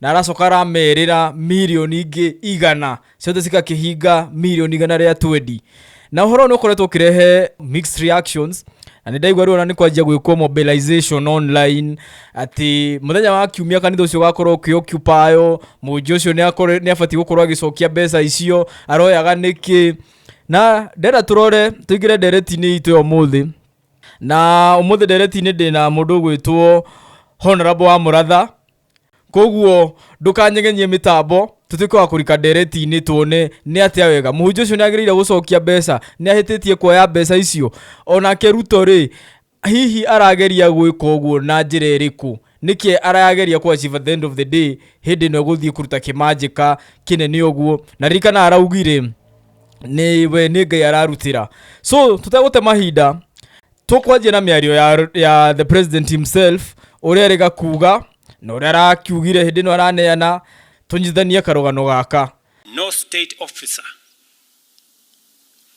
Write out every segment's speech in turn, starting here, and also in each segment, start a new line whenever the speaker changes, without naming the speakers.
na aracoka aramerĩra mirioni ingĩ igana ciothe cigakĩhinga mirioni igana rĩa twendi na ũhoro nĩ ũkoretwo ũkĩrehe mixed reactions na nĩ ndaigua rĩu ona nĩ kwanjia gwĩkwo mobilization online atĩ mũthenya wa kiumia kanitha ũcio ũgakorwo ũkĩokipayo mũnji ũcio nĩ akorwo- nĩ abatiĩ gũkorwo agĩcokia mbeca icio aroyaga nĩkĩ na ndenda tũrore tũingĩre ndereti-inĩ itũ ya ũmũthĩ na ũmũthĩ ndereti-inĩ ndĩna mũndũ ũgwĩtwo honorable wa mũratha koguo ndũkanyegenyie mĩtambo tũtuĩke wa kũrika ndereti-inĩ tuone nĩ atĩa wega mũhunjia ũcio nĩ agĩrĩire gũcokia mbeca nĩ ahĩtĩtie kuoya mbeca icio onake ruto rĩ hihi arageria gwĩka ũguo na njĩra ĩrĩkũ nĩkĩ arageria kwa achieve at the end of the day hĩndĩ ĩno gũthiĩ kũruta kĩmanjĩka kĩnene ũguo na ririkana araugire nĩ we nĩ ngai ararutĩra so tũtegũte mahinda tũkwanjia na mĩario ya, ya the president himself ũrĩa arega kuga na ũrĩa arakiugire hĩndĩ ĩno araneana tũnyitithanie karũgano gaka No state officer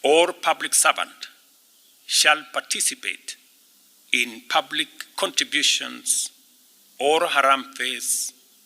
or public servant shall participate in public contributions or harambes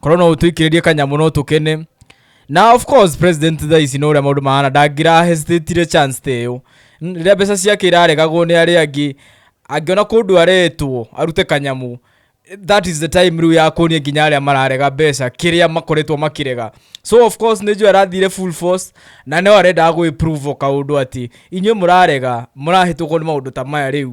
korwo no ũtwĩkĩrĩrie kanyamũ no tũkene na of course president thaa ici no ũrĩa maũndũ mahana ndangira hesitatire chance ta ĩyo N- rĩrĩa mbeca ciake iraregagwo nĩ arĩa angĩ angĩona kũndũ aretwo arute kanyamũ that is the time rĩu ya kuonia nginya arĩa mararega mbeca kĩrĩa makoretwo makĩrega so of course nĩnjũ arathire full force na no arendaga gwĩprove o kaũndũ atĩ inyuĩ mũrarega mũrahĩtũkwo nĩ maũndũ ta maya rĩu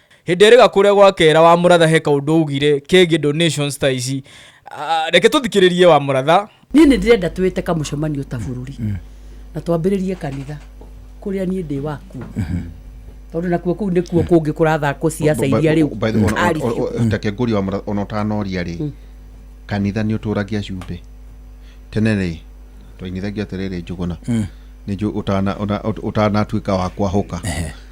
Hĩndĩ ĩrĩ gakũrĩa gwa kera wa mũratha he kaũndũ augire kegiĩ donations ta ici. Ah, Reke tũthikĩrĩrie wa mũratha. niä nä ndä renda twä te kamũcemanio ta bå rå ri na twambä rä rie kanitha kå rä a niä ndä wakuo tondå nakuo kå u nä kuo kå ngä kå rathakwo ciaca iria rä By the way, ona- ona- ona- ona- take ngũrie wa mũra- ona ũtanoria rĩ kanitha nĩ ũtũragia cumbĩ tene rĩ twainithagia atĩrĩrĩ njũgũna nĩ njũ- ũtana- ũna- ũt- ũtanatuĩka wa kwahũka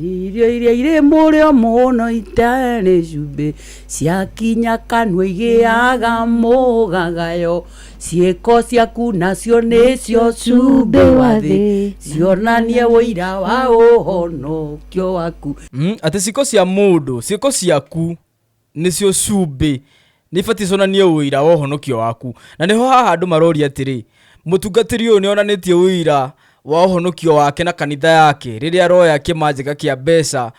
Irio iria irĩ mũrĩo mũno itarĩ cumbĩ ciakinya kanua igĩaga mũgagayo ciĩko ciaku nacio nĩcio cumbĩ wa thĩ cionanie ũira wa ũhonokio waku Mm, atĩ ciĩko cia mũndũ ciĩko ciaku nĩcio cumbĩ, nĩ ibatiĩ cionanie ũira wa ũhonokio waku. Na nĩho haha andũ maroria atĩrĩ, mũtungatĩri ũyũ nĩ onanĩtie ũira wa ũhonokio wake na kanitha yake rĩrĩa aroya kĩmanjĩka kĩa mbeca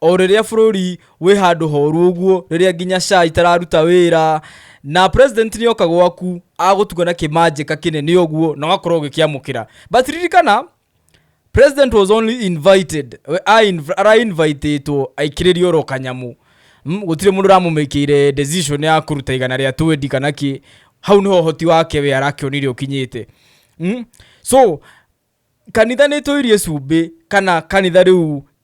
o rĩrĩa bũrũri wĩ handũ horu ũguo, rĩrĩa nginya SHA itararuta wĩra, na president nĩ oka gwaku agũtuga na kĩmanjĩka kĩnene ũguo na ũgakorwo ũgĩkĩamũkĩra. But ririkana, president was only invited we- a- inv- arainvitĩtwo aikĩrĩrio ro kanyamũ Mm, gũtirĩ mũndũ ũramũmĩkĩire decision ya kũruta igana rĩa twendi kana kĩ hau nĩho ũhoti wake we arakĩonire ũkinyĩte Mm? so kanitha nä tå irie cumbä kana kanitha rä u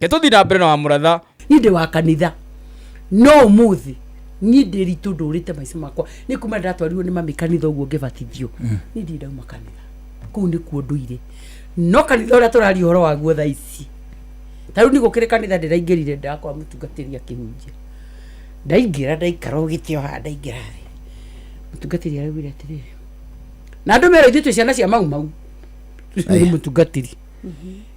Ke tũthiĩ na mbere na wa mũratha. Niĩ ndĩ wa kanitha. No ũmũthĩ niĩ ndĩ ritũ ndũrĩte maica makwa nĩ kuma ndatwarirwo nĩ mami kanitha ũguo ngĩbatithio mm. niĩ ndirĩ ndauma kanitha kũu nĩkuo ndũire no kanitha ũrĩa tũraria ũhoro waguo thaa ici ta rĩu nĩ gũkĩrĩ kanitha ndĩraingĩrire ndakwa mũtungatĩri akĩhunjia ndaingĩra ndaikara ũgĩte o haha ndaingĩra thĩ mũtungatĩri araugire atĩrĩrĩ na andũ mera ithuĩ twĩ ciana cia mau mau mũtungatĩri mm-hmm.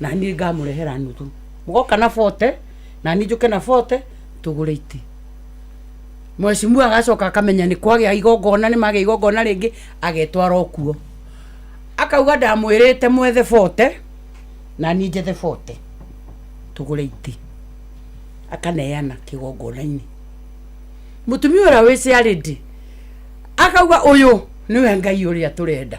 na niĩ ngamũrehera nuthu mũgoka na bote na niĩ njũke na bote tũgũre iti mwecimua agacoka akamenya nĩ kwagĩa igongona nĩ magĩa igongona rĩngĩ agetwara okuo akauga ndamwĩrĩte mwethe bote na niĩ njethe bote tũgũre iti akaneana kĩgongona-inĩ mũtumia ũrĩa wĩciarĩndi akauga ũyũ nĩwe ngai ũrĩa tũrenda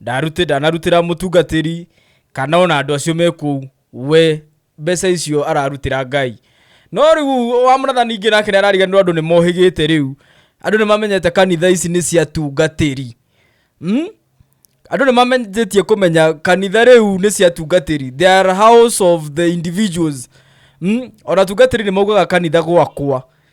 Ndarutĩ, ndanarutĩra mũtungatĩri kana ona andũ acio me kũu we mbeca icio ararutĩra ngai no rĩu wa mũratha ningĩ nake nĩarariganirwo andũ nĩmohĩgĩte rĩu andũ nĩmamenyete kanitha ici nĩ cia tungatĩri mm? andũ nĩmamenyithĩtie kũmenya kanitha rĩu nĩ cia tungatĩri they are house of the individuals mm? ona tungatĩri nĩmaugaga kanitha gwakwa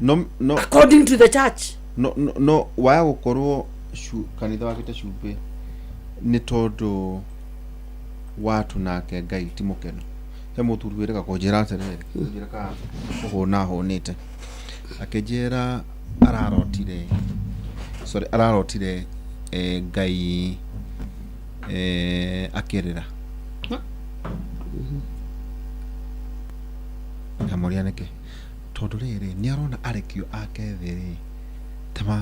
no no according to the church no no, no waya gũkorwo cu- kanitha wakĩte cumbĩ nĩ tondũ watu nake ngai ti mũkenu he mũthuri wĩrĩga kũnjĩra atĩrĩrĩ njĩra ka kũhũna ahũnĩte akĩnjĩra ararotire sorry ararotire eh, ngai eh, akĩrĩra ngamũria nĩkĩ Tondũ rĩrĩ, nĩ arona arekio ake thĩ-rĩ, ta ma,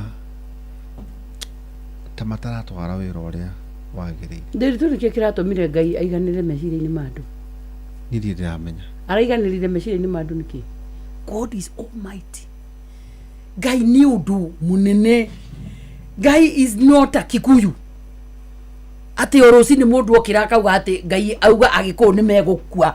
ta mataratwara wĩra ũrĩa wagĩrĩire. Ndiritu nĩkĩo kĩratũmire Ngai aiganĩre meciria-inĩ ma andũ. Niĩ ndirĩ ndĩramenya. Araiganĩrire meciria-inĩ ma andũ nĩkĩ? God is almighty. Ngai nĩ ũndũ mũnene. Ngai is not a Kikuyu. Atĩ o rũcinĩ mũndũ okĩra akauga atĩ Ngai auga Agĩkũyũ nĩ megũkua.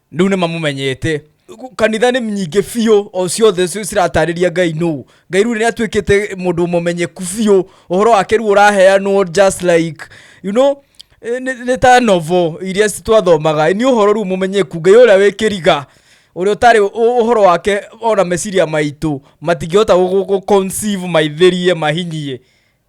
rĩu nĩ mamũmenyete Gu- kanitha nĩ nyingĩ biũ o ciothe ci- ciratarĩria ngai nũ ngai rĩu nĩ atuĩkĩte mũndũ mũmenyeku biũ ũhoro wake rĩu ũraheanwo just like you know eh, nĩ nĩ ta novo iria ci- twathomaga nĩ ũhoro rĩu mũmenyeku ngai ũrĩa wĩ kĩriga ũrĩa ũtarĩ ũ- ũhoro wake ona meciria maitũ matingĩhota gũ- gũ- gũ- conceive maithĩrie mahinyie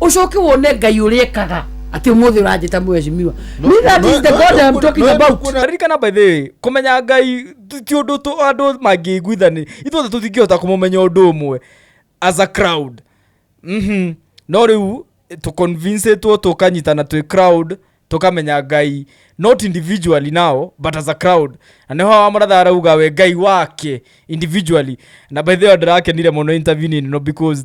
ucoke wone ngai uria ekaga ati umuthi uranjita mweshimiwa No, me that no, is the no, god no, i'm no, talking no, about kuona- ririkana by the way kumenya ngai ti- ti undu tu- andu mangĩiguithani ithuothe tũtingĩhota kũmũmenya ũndũ ũmwe as a crowd Mhm. no rĩu tũconvincĩtwo tũkanyitana twĩ crowd tũkamenya ngai not individually now but as a crowd na nĩho wamũratha arauga we ngai wake individually na by the way ndĩrakenire mũno interviewing ĩno because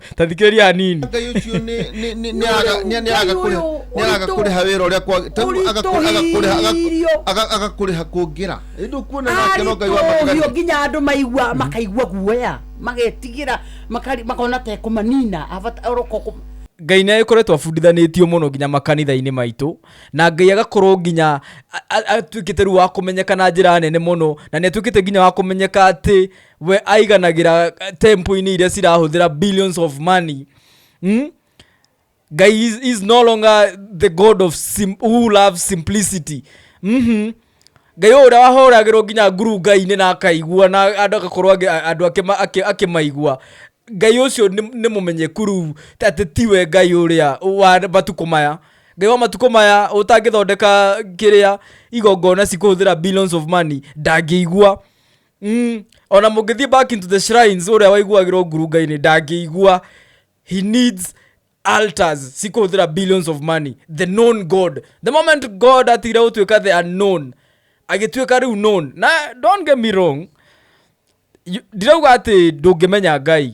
ta thikĩrĩria hanini ngai ucio ni ni ni ni aga ni ni aga kuri ni aga kuri ha wira uria kwa ta aga kuri aga kuri aga aga kuri ha kungira ndu kuona na kero ngai wa matigari nginya andu maigua makaigua guoya magetigira makari makona te kumanina avata oroko ngai nä akoretwo abundithanätio må no nginya makanitha-inä maitå na ngai agakorwo nginya atuä kä te rä u wa kå menyeka na njä ra nene må no na nä atuä kä te nginya wa kå menyeka atä we aiganagĩra tempo-inĩ iria cirahũthĩra billions of money hmm? guy is, is no longer the god of sim, who loves simplicity mm-hmm. ngai ũyũ ũrĩa wahoragĩrwo nginya nguru ngai-inĩ na akaigua na andũ agakorwo angĩ- a- andũ akĩma- akĩ- akĩmaigua ngai ũcio nĩ nĩ mũmenyeku rĩu ta atĩ tiwe ngai ũrĩa wa matukũ maya ngai wa matukũ maya ũtangĩthondeka kĩrĩa igongona cikũhũthĩra billions of money ndangĩigua Mm, ona mũngĩthiĩ back into the shrines ũrĩa waiguagĩrwo ngurunga-inĩ ndangĩigua he needs altars si kũhũthĩra billions of money the known god the moment god atigire gũtuĩka the unknown agĩtuĩka rĩu known na don't get me wrong you- ndirauga atĩ ndũngĩmenya ngai